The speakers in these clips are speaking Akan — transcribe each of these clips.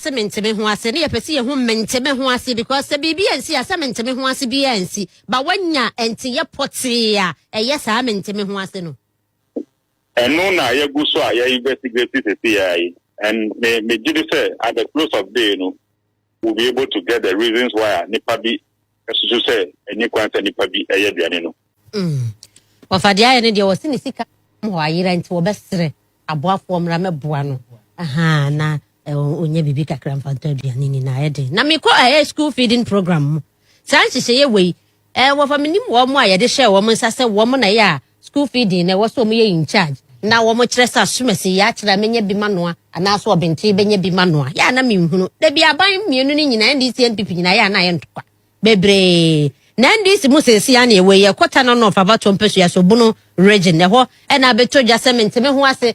sɛ mente me ho ase ne yɛpɛ sɛ yɛhu mente me ho ase because sɛ biribi ansi a sɛ mente me ho ase biara ansi ba wanya nteyɛ pɔtee a ɛyɛ saa mente me ho ase no ɛno na yɛgu so a yɛ investigate sese yɛ yi and me me gye de sɛ at the close of day no will be able to get the reasons why a nipa bi susu sɛ ɛni kwan sɛ nipa bi ɛyɛ aduane no. Mm. Wɔfa deɛ ayɛ no deɛ wɔsi ne sika hɔ ayera nti wɔbɛsrɛ aboafoɔ mmra mɛboa no ahaa na ɔnya eh, biribi kakra mfa ntɔ aduane ni na ayɛ den na mekɔ ɛyɛ eh, school feeding program mu saa nhyehyɛeɛ wei Ɛɛ wɔfa menim wɔn a yɛde hyɛɛ wɔn nsa sɛ wɔn na ɛyɛ a school feeding na ɛwɔ sɛ wɔn yɛ in charge na wɔn kyerɛ sɛ asomasi yɛ akyerɛ a mɛnya bi manoa anaa so ɔbentee bɛnya bi manoa yɛ a na menhunu dabi aban mmienu no nyinaa NDC NPP nyinaa yɛ a na ayɛ ntɔkwa bebree na NDC mu seesei a na ɛwɔ yi ɛkɔ Tano North Abatoɔ Mpasua so Bono region ɛhɔ ɛna abɛtɔ dwa sɛ mente me ho ase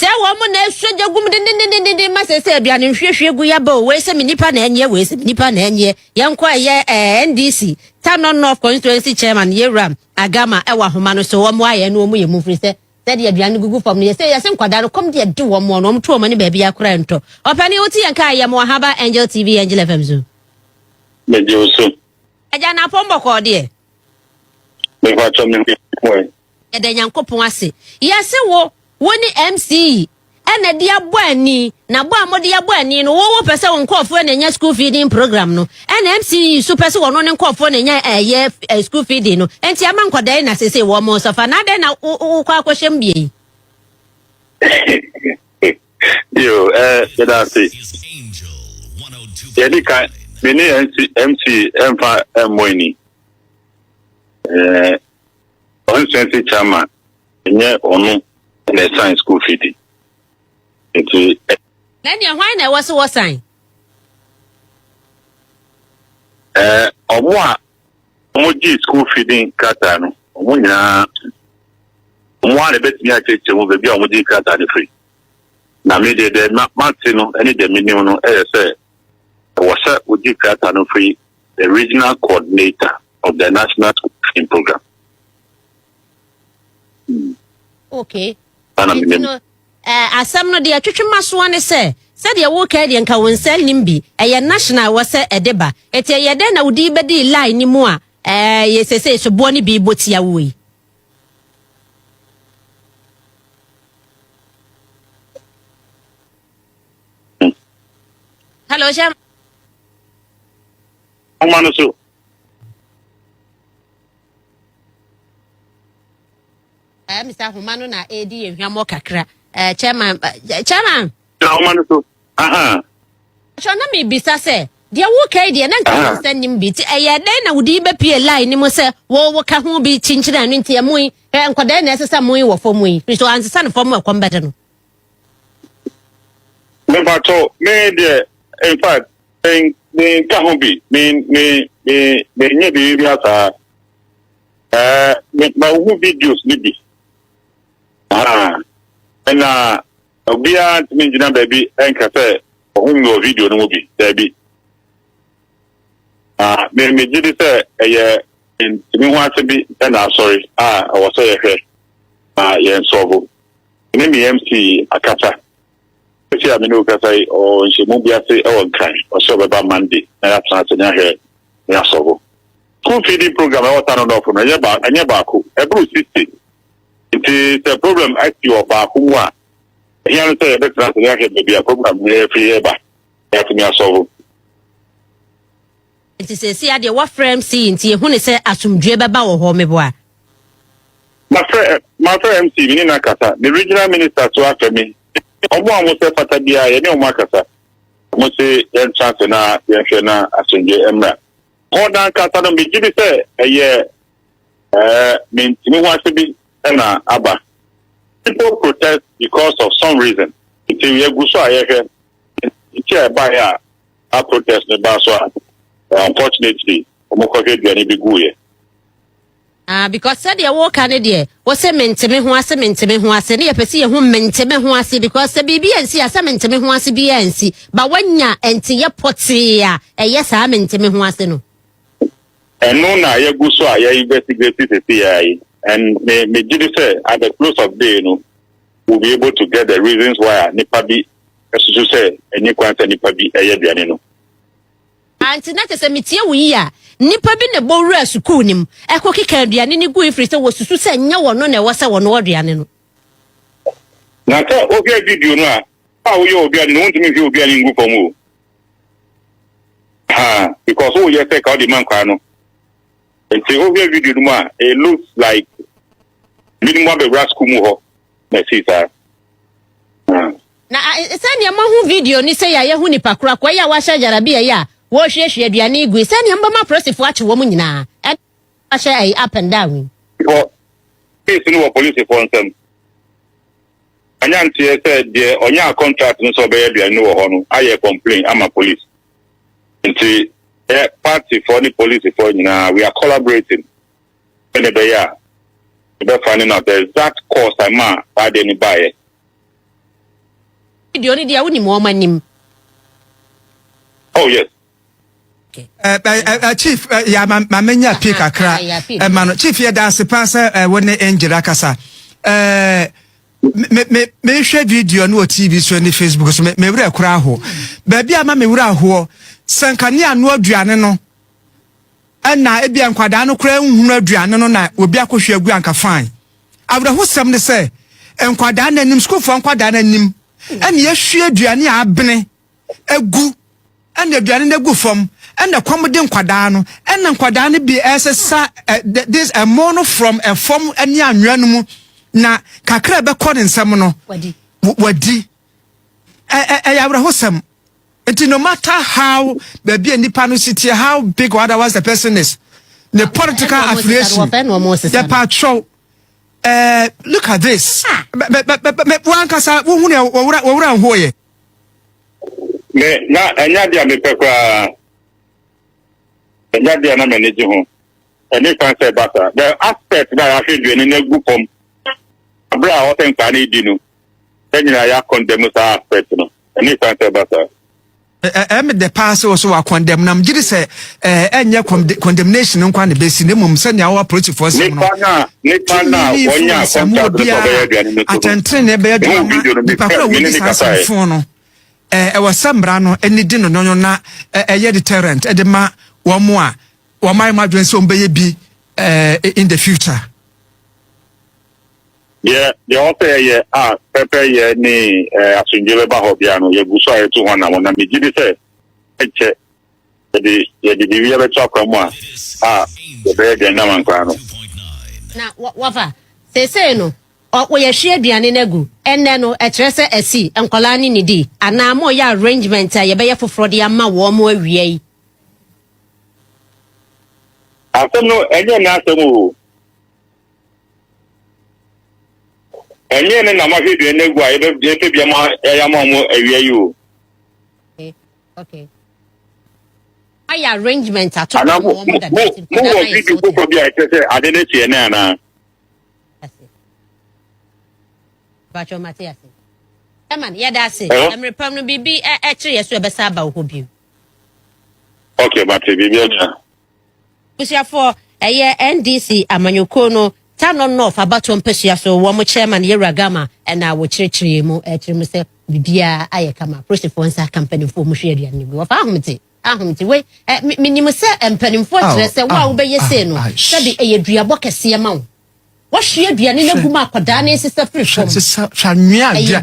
Sɛ wɔn mo na ɛsɔ gya gu mu dendendendenden ma sɛ sɛ aduane nhwiehwie gu yaba o wei sɛ me nipa na ɛnyɛ wei sɛ me nipa na ɛnyɛ yɛn kɔ ɛyɛ ɛɛ ndc tanɔ north constituency chairman yewuram agama ɛwɔ ahoma no so wɔn ayɛ no wɔn yɛ mu firi sɛ sɛdeɛ aduane no gugu fam no yɛsɛ yɛsɛ nkwadaa no kɔm deɛ de wɔn wɔn wɔn to wɔn ani baabi akora ntɔ ɔpɛni wote yɛn kaa yɛ mo ahaba angel tv angel fm so. mede wo so. agya na apɔn bɔkɔɔ deɛ. mefa kyɛ me ho Yɛda Nyankopɔn ase. Yɛse wo, wo ne MCE na ɛde abɔ ani, na bɔ a mode abɔ ani no, wo wopɛ sɛ wo nkorɔfoɔ na ɛnya school feeding program no, ɛna MCE nso pɛ sɛ wɔn ne nkorɔfoɔ na ɛnya ɛyɛ eh, school feeding no, enti ama nkɔdaa yi na sese wɔn mo sɔfa, na adɛn na wokɔ akɔhyɛ mu bie yi? Yo, eh, yɛda ase. Yɛde ka, me ne MCE mfa mmɔ ani. Eh, Constituency chairman nyɛ ɔno na ɛsan school fee di. Nti. Ɛnneɛ hwan na ɛwɔ sɛ wɔsan? Ɛɛ wɔn a wɔgye school fee din krataa no, wɔn nyinaa wɔn a na ɛbɛtumi akyerɛkyerɛ mu baabi a wɔgye krataa no firi. Na me deɛ deɛ mate no ne deɛ menim no ɛyɛ sɛ ɛwɔ sɛ wɔgye krataa no firi the Regional Coordinator of the National School Feeding Program. Hmm. Okay. Nti no, eh, asɛm no deɛ twetwe ma soɔ ne sɛ sɛdeɛ woka deɛ nka wo nsa nim bi ɛyɛ national wɔ sɛ ɛde ba ɛti ɛyɛ dɛn na wode bɛdi line no mu a eh, yɛ sɛsɛ soboɔ no bi bɔ tia wo yi Hello, Shem. Ọma no so. Eh, Mr. Homa no na edi yɛ hwamɔ kakra. Eh, chairman, eh, chairman. Na ọma no so. Aha. Atwa na mi bisa sɛ, deɛ woka yi deɛ na nka yɛn nsa nim bi ti ɛyɛ dɛn na wodi bɛpie line ne mu sɛ wo woka ho bi kyinkyini ano nti ɛmo yi ɛ nkɔdaa na ɛsɛ sɛ mo yi wɔ fam yi nso ansesa no fam ɛkɔm bɛde no. Mepatɔ me deɛ in fact menka ho bi menyɛ biribi bi asaa mahu videos no bi ɛna obiara ntumi ngyina baabi ɛnka sɛ ɔho mu wɔ video no mu bi daabi megye di sɛ ɛyɛ ntumi ho ase bi ɛna asɔre a ɛwɔ sɛ yɛhwɛ na yɛn sɔbo Me ne me MC akasa. Sisi a me ne wo kasa yi, ɔwɔ nhyɛmu bi ase wɔ Nkran. Ɔsɛ ɔbɛba Monday na yɛatena ase ne ahwɛ ne asɔbo. School feeding program ɛwɔ Tano North no, ɛnyɛ ba ɛnyɛ baako, ɛboro sixty. Nti sɛ problem asi wɔ baako mu a, ɛhia no sɛ yɛbɛtena ase ne ahwɛ baabi a program no yɛfiri yɛba na yɛatumi asɔbo. Nti seesei adeɛ woafrɛ MC yi nti yɛhunu sɛ asomdwoeɛ bɛba wɔ hɔ meboa. Mafrɛ eh mafrɛ MC me ne no akasa me regional minister so afɛ me ɔmo a ɔmo sɛ fata biara yɛne ɔmo akasa ɔmo se yɛntra ase na yɛnhwɛ na asomdwoeɛ mmra hɔ nankasa no megye di sɛ ɛyɛ eh me ntumi ho ase bi na aba people protest because of some reason nti yɛgu so a yɛhwɛ nti a ɛbaeɛ a a protest no baa so a unfortunately wɔn kɔhwɛ aduane bi guiɛ. Ah, because sɛdeɛ woka ne deɛ wo se mente me ho ase mente me ho ase ne yɛpɛ sɛ yɛhu mente me ho ase because sɛ biribi ansi a sɛ mente me ho ase biara ansi ba woanya nteyɛ pɔtee a ɛyɛ saa mente me ho ase no ɛno na yɛgu so a yɛ investigate sisi yɛ yi and me me gye di sɛ at the close of day no we'll be able to get the reasons why a nipa bi susu sɛ enni kwan sɛ nipa bi yɛ aduane no. Ante na kyerɛ sɛ metie wo yie a, nipa bi na ɛbɔ wuraa sukuu no mu ɛkɔ keka aduane no gui firi sɛ wɔsusu sɛ nyɛ wɔno na ɛwɔ sɛ wɔnoa aduane no. Na sɛ wohwɛ video no a, a woyɛ wɔ aduane no, wontumi nhwie aduane ngu fam o. Ha, because woyɛ sɛ ka wode ma nkwaa no. Nti wohwɛ video no mu a, it looks like binom abɛwura sukuu mu hɔ na ɛsii saa. Ah. Na sɛnea mahu video no sɛ yɛ a yɛhu nipa korakoa yi a wahyɛ gyarabea yi a wɔrehwiehwie aduane yi gui sɛnea mbɛma apolisifo akye wɔn nyinaa ɛna wahyɛ ɛyi up and down yi. Wɔ case no wɔ polisifo nsɛm anya nteɛ sɛ deɛ ɔnyaa contract no sɛ ɔbɛyɛ aduane no wɔ hɔ no ayɛ complain ama police Nti yɛ party foɔ ne police foɔ nyinaa we are collaborating sɛdeɛ ɛbɛyɛ a yɛbɛ finding out the exact cause a ɛmaa saa adeɛ no baeɛ. Video no deɛ wonim wɔn anim. Oh yes. Chief ya ma menya pii kakra ma no chief yɛ danse paa sɛ wo ne Angel akasa me me mehwɛ video no wɔ tv so ne facebook so me me werɛ kora aho baabi a ma me werɛ ahoɔ sɛ nka ne ano aduane no ɛna ebi a nkwadaa no koraa nhunu aduane no na obi akɔhwɛ agu anka fine awerɛhosɛm ne sɛ nkwadaa no anim sukuufoɔ nkwadaa no anim ɛna yɛhwie aduane a abene agu ɛna aduane no agu fam ɛna ɛkɔm de nkwadaa no ɛna nkwadaa no bi ɛsesa ɛ this ɛmo no from ɛfam ɛne anwea no mu na kakra ɛbɛkɔ ne nsam no wadi ɛɛ ɛyɛ awerɛhosɛm nti no matter how baabi a nipa no si tie how big or otherwise the person is ne political affiliation yɛ patrɔw. Uh, look at this. Ah. Wankasa, wohunu wɔwura nhoyɛ. Me, na ɛnyɛ ade a mepɛ koraa. Ɛnyɛ ade a na m'ani gye ho. Ɛne kwan sɛ ɛba saa. The aspect na yɛahwɛ aduane no agu fam bere a ɔsɛ nkaa no redi no, yɛn nyinaa yɛakɔndɛm saa aspect no. Ɛne kwan sɛ ɛba saa. Ɛyɛ me dɛ paa sɛ wɔ so wɔakɔndɛm no. Megye di sɛ ɛɛ ɛnyɛ condemnation nkwa na ebesi na mmom sɛnea ɔwɔ apolisifoɔ nsɛm no tumi ne influence a mu obiara atɛntrenee bɛyɛ adwuma ma nipa koro a wɔdi saa asɛmfo no ɛɛ ɛwɔ sɛ mmara no ani di no nyɔnyɔ na ɛyɛ deterrent ɛde ma wɔn a wɔn ayɛ mu adwene sɛ wɔn bɛyɛ bi ɛɛ in the future. deɛ deɛ ɔsɛ yɛyɛ a pɛpɛyɛ ne asomdwe bɛba hɔ bia no yɛgu so a yɛto hɔ na wɔnam megye de sɛ ɛkyɛ yɛde yɛde biribi abɛto akwan mu a a yɛbɛyɛ dɛn nam ankoraa no. na wɔ- wɔfa seesei no ɔ- wɔyɛhwie aduane no agu ɛnnɛ no ɛkyerɛ sɛ asi nkwadaa no ne di anaa mo yɛ arrangement a yɛbɛyɛ foforɔ de ama wɔn mo awia yi asɛm no ɛnyɛ ne asɛm o ɛnyɛ ne na mahwɛ aduane no agu a yɛbɛ- yɛpɛ bia ma yɛayɛ ama mo awia yi o Okay. ayɛ arrangement ato Ana mo wɔn mo dada mo nti mo nkwadaa no wɔ ayɛ video sorted. foforɔ bi a ɛkyerɛ sɛ ade no kyeɛ ne anaa? Ase. Bakyɛ ɔmo ate ase. Ɛma no yɛda ase. Hello? Ɛmere pam no biribi ɛ- ɛkyere yɛ so ɛbɛsa aba wo hɔ bio. Okay, mate biribi anya. Abusuafoɔ, ɛyɛ NDC amanyɔkuo no Tano North abatoɔ mpasua so wɔn chairman Yawura Gama na wɔkyerɛkyerɛɛ mu kyerɛ mu sɛ biribiara ayɛ kama, apolisifoɔ nsa aka mpanimfoɔ a wɔhwie aduane no gu. Wɔfa ahomete, ahomete wei, menim sɛ mpanimfoɔ kyerɛ sɛ wo a wobɛyɛ sei no sɛbe ɛyɛ duabɔ kɛseɛ ma wo. Wɔhwie aduane no agu ma akwadaa no nsesa firi fam. Hwɛ anwea a ɛyɛ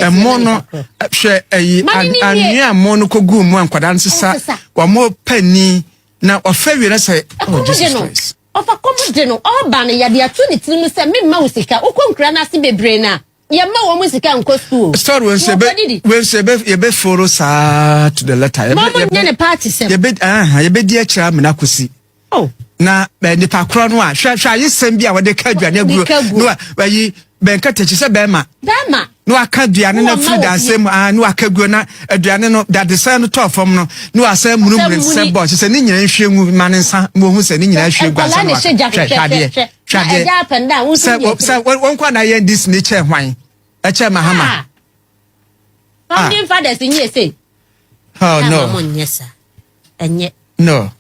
ɛmo no. Hwɛ ɛyi anwea ɛmo no kɔ gu mu a nkwadaa no sesa. Wɔn pɛ ni na ɔfɛ wie na sɛ. Oh Jesus Christ. Ɔfa kɔm de no ɔba no yɛde ato ne tirim sɛ memma wo sika wokɔ nkura no ase bebree no a Yɛmma wɔn mu sika nkɔ sukuu. Story wei nso yɛbɛ wei nso yɛbɛ yɛbɛ foro saa to the letter. Yɛbɛ yɛbɛ yɛbɛ nyɛ ne party sɛm. Yɛbɛ ɛhɛn yɛbɛ di akyire amena kosi. Oh. Na bɛ nipa korɔ no a hwɛ hwɛ ayi sɛm bi a wɔde ka aduane aguo. Nika guo. Na wa ayi bɛnka takyi sɛ bɛrima. Bɛrima. Na waka aduane na firi danse mu ah na waka guo na aduane no dadesan no tɔɔ fam no na wasɛ munumunu sɛ bɔ sɛ ne nyinaa nhwie ngu ma ne nsa ma ohun sɛ ne nyinaa hwie gu ansa na waka hwɛ hwɛ adeɛ. Twa hɛ. Ɛgya apɛ nda a wo nso yɛ. Sɛ wɔn kɔ na yɛn dis ne kyɛ hwan ɛkyɛ mahama. Ah. Founding fathers n yɛ sɛ. Oh no. Ɛma mo nyɛ sa. Ɛnyɛ. No.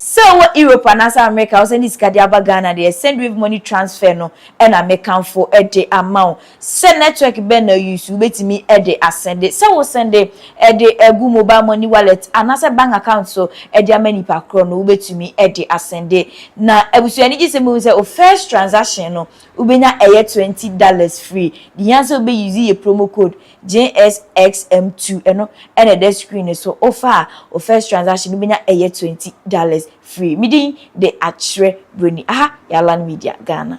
Sɛ wowɔ Europe anaasɛ Amerika a wosɛnde sika de aba Ghana deɛ, sendwave money transfer no na mekamfo de ama wo. Sɛ network bɛn na use, wobɛtumi de asɛnde. Sɛ wo sɛnde de agu mobile money wallet anaasɛ bank account so de ama nipa korɔ no, wobɛtumi de asɛnde. Na abusua no gyesɛ mobɛhu sɛ wo first transaction no wobɛnya ɛyɛ twenty dollars free. Di hia sɛ wobɛ use yɛ promo code JSXM2 ɛno na ɛda screen no so. Wo fa a wo first transaction no wobɛnya ɛyɛ twenty dollars. Firi me din de akyerɛ buroni. Aha yɛ Alan Media Ghana.